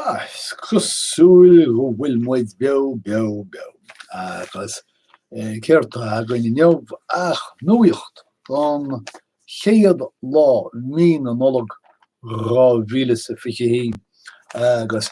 Is cosúil go bhfuil muid beo beo beo, agus céard tá againn inniu ach nuacht don chéad lá i mí na Nollag 2020, agus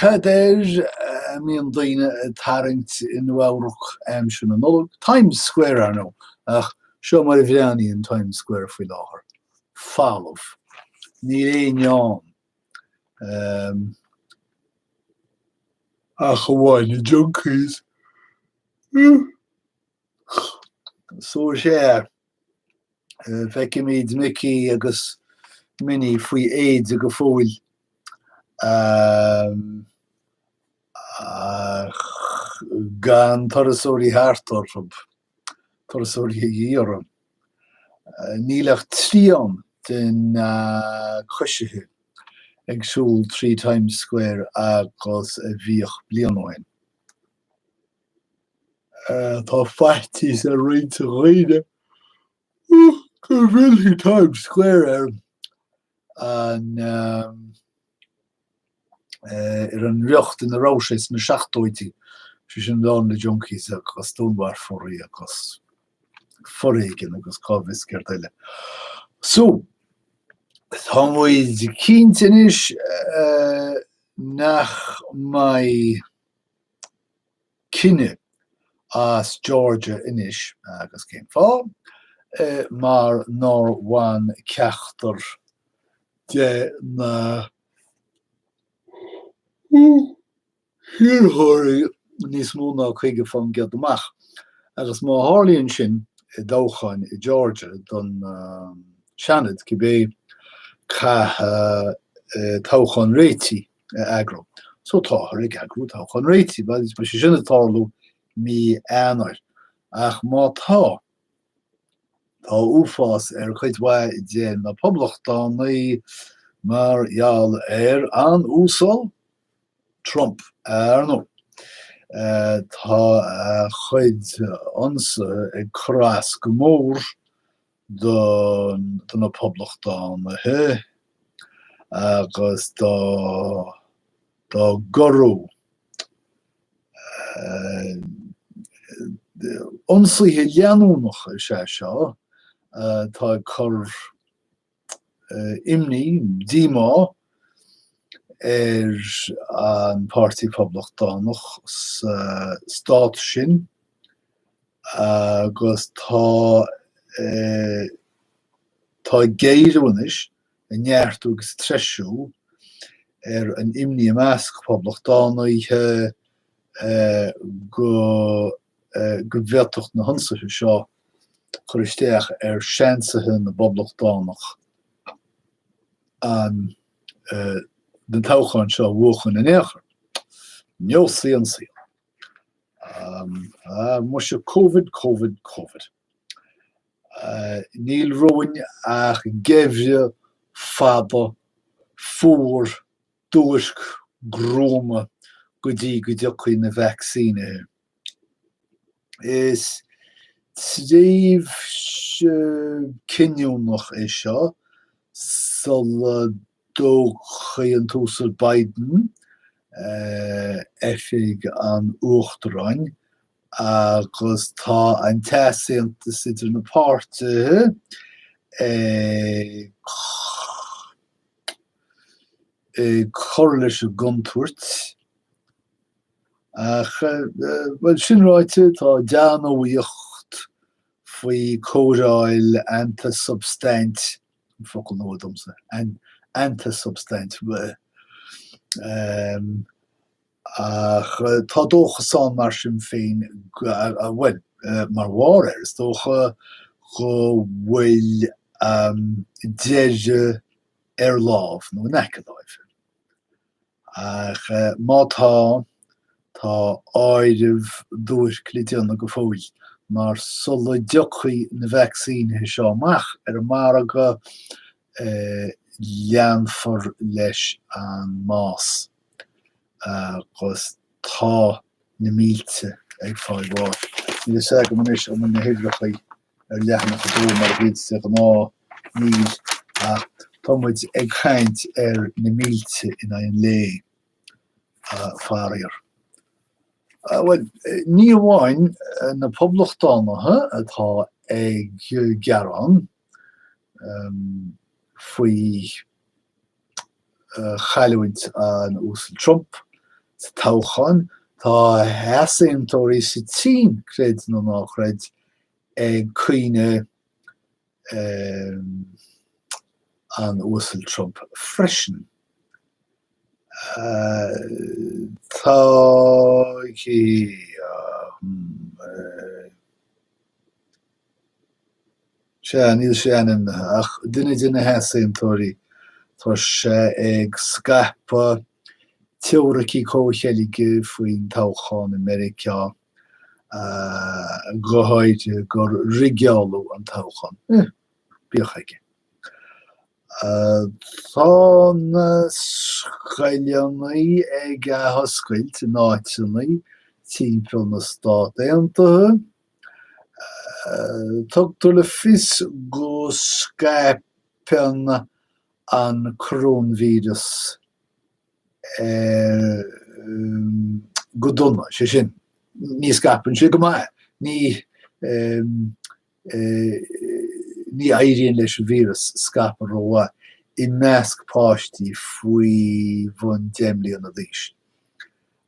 cad air a mbíonn daoine ag tarraingt i Nua-Eabhrac aimsir na Nollag? Times Square, ar ndóigh, ach seo mar a bhreathnaíonn Times Square faoi láthair. falamh. Níl éinne ann ach amháin na junkies. So sea, feicimid Micí agus Minnie faoi éide go fóill ach gan turasóirí thart orthu. turasóirí a dhíth orthu. Níl ach trian de na coisithe ag siúl trí Times Square agus a bhíodh bliain ó shin. Tá faitíos ar roinnt daoine go bhfillfidh Times Square ar ar an riocht ina raibh sé sna seachtóidí, sé sin lán le junkies agus dúnmharfóirí agus foréigean agus cá bhfios céard eile. So, tá muid cinnte anois nach mbeidh cinneadh as Georgia anois, agus cén fáth? mar nár bhain ceachtar de na hiarrthóirí níos mó ná caoga faoin gcéad amach, agus má tharlaíonn sin i dtoghchán i Georgia don Seanad, go bé, caithfear toghchán réitigh, a eagrú. So táthar ag eagrú toghchán réitigh, beidh sé sin ag tarlú mí Eanáir. Ach má tá, tá uafás ar chuid mhaith de na Poblachtánaigh mar gheall ar an Uasal Trump, ar ndóigh. Tá a chuid ionsaithe ag cur as go mór do na Poblachtánaithe agus dá gcrá. Ionsaithe leanúnacha is ea seo atá ag cur imní, díomá ar an Páirtí Poblachtánach sa stát sin. Agus tá, eh, tá ag géarú anois, ag neartú agus ag treisiú ar an imní i measc Poblachtánaithe, eh, go, eh, go bhféadfadh na hionsaithe seo cur isteach ar seansaithe na bPoblachtánach an, eh, an toghchán seo a bhuachan in aon chor. Neosfaidh an saol. Ah muise Covid, Covid, Covid. Níl romhainn ach geimhreadh fada, fuar, duairc, gruama go dtí go dtiocfaidh na vacsaínithe. Is tréimhse cinniúnach é seo sula dtógfaidh an tUasal Biden oifig an Uachtaráin agus tá an t-easaontas idir na páirtithe ag cur leis an gcontúirt. Ach, bhuel, sin ráite, tá dea-nuaíocht faoi chóireáil antasubstaint an focal nua domsa, antasubstaint, ach tá dóchas ann mar sin féin bhuel, mar bharr air, is dócha go bhfuil deis ar lámh, nó in aice láimhe. Ach má tá, tá áireamh duairc le déanamh go fóill, mar sula dtiocfaidh na vacsaínithe seo amach ar an margadh, leanfar leis an mbás agus tá na mílte ag fáil bháis. Níl a fhios agam anois an bhfuil na huimhreacha ar leathanach a dó mar a bhíonn de ghnáth, níl, ach tá muid ag caint ar na mílte in aghaidh an lae, faraor. Bhuel, ní amháin na poblachtánaithe atá ag gearán faoi. chailliúint an Uasail Trump sa toghchán, tá easaontóirí sa tSín, creid nó ná creid, ag caoineadh an Uasail Trump freisin. Tá. Sea, níl sé ainmnithe, ach duine de na heasaontóirí, tá sé ag scaipeadh teoiricí comhcheilge faoin toghchán i Meiriceá, go háirithe gur rigeáladh an toghchán. Bíodh aige. Tá na scoileanna ag athoscailt in áiteanna timpeall na Stát Aontaithe. Tugtar le fios go scaipeann an coróinvíreas go dona, sé sin, ní scaipeann sé go maith, ní éiríonn leis an víreas scaipeadh rómhaith, i measc páistí faoi bhun deich mbliana d'aois.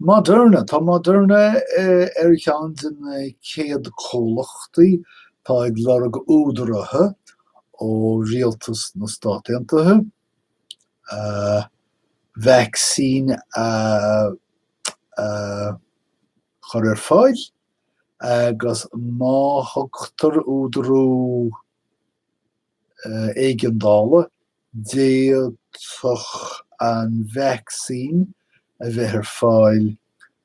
Moderna. Tá Moderna ar cheann de na céad comhlachtaí atá ag lorg údaraithe ó rialtas na Stát Aontaithe vacsaín a chur ar fáil agus má thugtar údarú, éigeandála, d'fhéadfadh an vacsaín a bheith ar fáil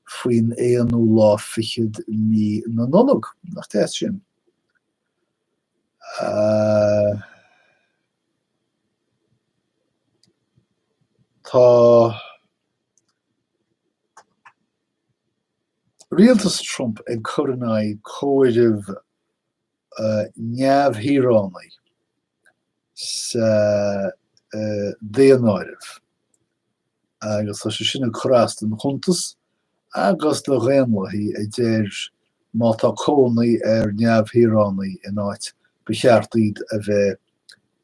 faoin aonú lá fichead mí na Nollag. Nach deas sin? Tá rialtas Trump ag cur in aghaidh comhairimh neamhshaoránaigh sa daonáireamh agus tá sé sin ag cur as don chuntas agus do Dhaonlathaí a deir má tá cónaí ar neamhshaoránaigh in áit ba cheart iad a bheith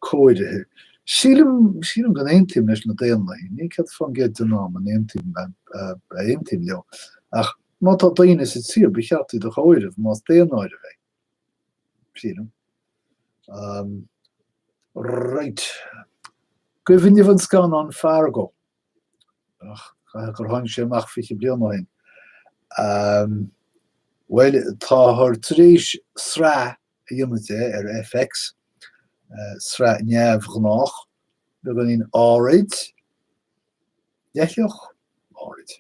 comhairithe. Sílim go n-aontaím leis na Daonlathaí, ní céad fán gcéad den am a n-aontaím a n-aontaím leo ach. Má tá daoine sa tír, ba cheart iad a chomhaireamh, más daonáireamh é. Sílim. Right. Cuimhin libh an scannán Fargo? Ach, caithfidh gur tháinig sé amach fiche bliain ó shin. Bhuel, táthar tar éis sraith a dhéanamh de ar FX, sraith neamhghnách beagáinín áirid, leithleach, áirid.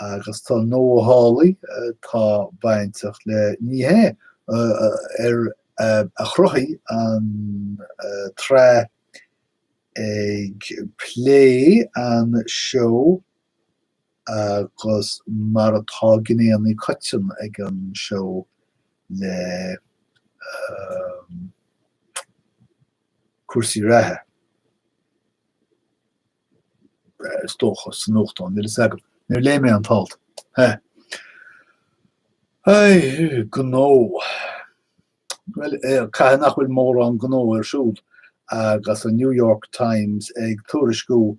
Agus tá Noah Hawley, atá bainteach le ní hea, a chruthaigh an tsraith ag plé an seó agus mar atá gné atá coitianta ag an seó le cúrsaí reatha, is dócha, sa nuachtán, níl a fhios agam, níor léigh mé an t-alt, hé. Aye, gnó. Bhuel, caithfidh nach bhfuil mórán gnó ar siúl agus an New York Times ag tuairisciú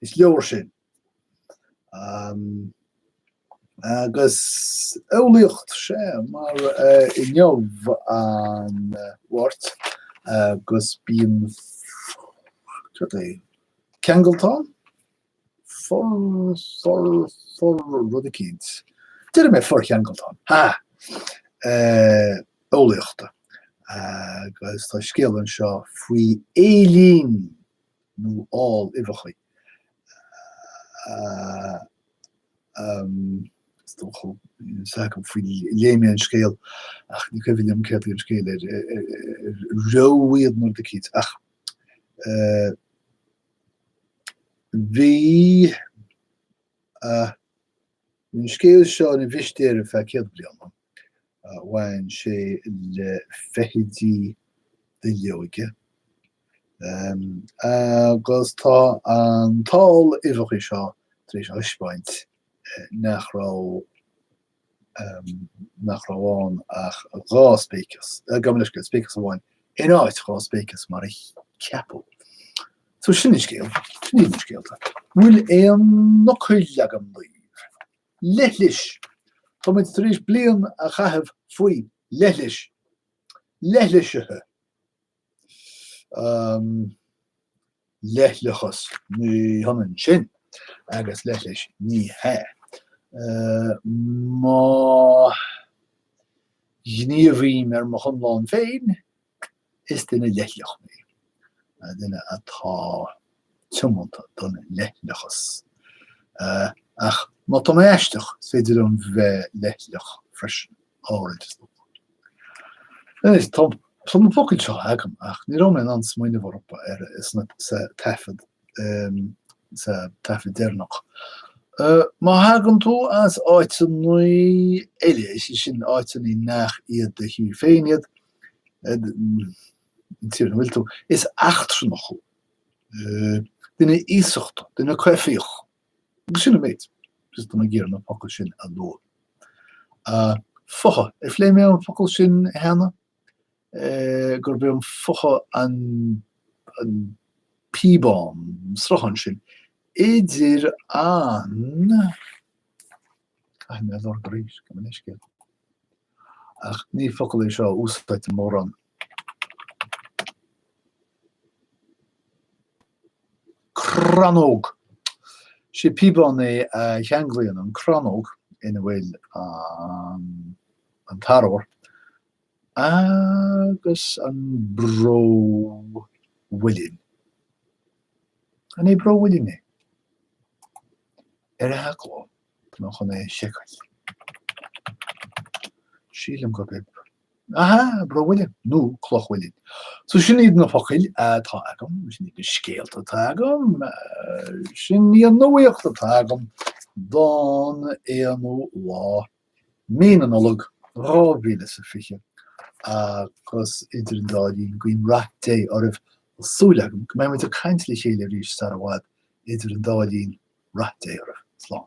is leabhair sin. Agus eolaíocht, sea, mar inniu an Mháirt agus bíonn, cad é, ceangaltán? For, for, for, rud eicínt. Déarfaidh mé forceangaltán. Ha! Eolaíochta. Agus tá scéal anseo faoi éillín. nó ál uibheacha, is dócha, is dócha go bhfuil, léigh mé an scéal ach ní cuimhin liom céard é an scéal ar rugadh iad nó rud eicínt ach bhí an scéal seo ina mhistéir ar feadh céad bliain, Bhain sé le feithidí duilleoige, agus tá an t-ál uibheacha seo tar éis a thaispeáint nach raibh nach raibh ann ach dhá spéiceas, gabh mo leithscéal, spéiceas amháin in áit dhá spéiceas mar a ceapadh. So sin an scéal, sin iad na scéalta. Bhfuil aon fhocail agam daoibh! leithlis, Tá muid tar éis bliain a chaitheamh faoi leithlis, leithlisithe, Um. leithleachas, Ní hionann sin agus leithlis, ní hea. Má ghníomhaím ar mo chonlán féin. Is duine leithleach mé, duine atá tiomanta don leithleachas. Ach má tá mé aisteach, is féidir liom bheith leithleach freisin, áirid, is dócha. Anois, tá na focail seo agam, ach ní raibh mé in ann smaoineamh orthu sa taifead, sa taifead deireanach. Má thagann tú as áiteanna eile, is é sin, áiteanna nach iad do thír féin iad, an tír ina bhfuil tú, is eachtrannach thú, duine iasachta, duine coimhthíoch, agus sin an méid, just ag iarraidh na focail sin a lua. Fotha, ar phlé mé an focal sin cheana? gurb é an fotha an píobán, an sruthán sin idir an. Caithfidh mé a lorg arís, gabh mo leithscéal, ach ní focal é seo a úsáidtear mórán. Crannóg! Sé píobán é a cheanglaíonn an crannóg ina bhfuil an t-arbhar agus an bró mhuilinn. An é bró mhuilinn é? ar Theanglann chun é a sheiceáil. Sílim gurb é Aha! Bró Mhuilinn, nó Cloch Mhuilinn. So sin iad na focail atá agam, sin iad na scéalta atá agam, sin í an nuaíocht atá agam don 1ú lá Mí na Nollag dhá mhíle is a fiche, agus idir an dá linn, guím rath Dé oraibh, tá súil agam go mbeidh muid ag caint le chéile arís sar i bhfad, idir an dá linn, rath Dé oraibh. Slán.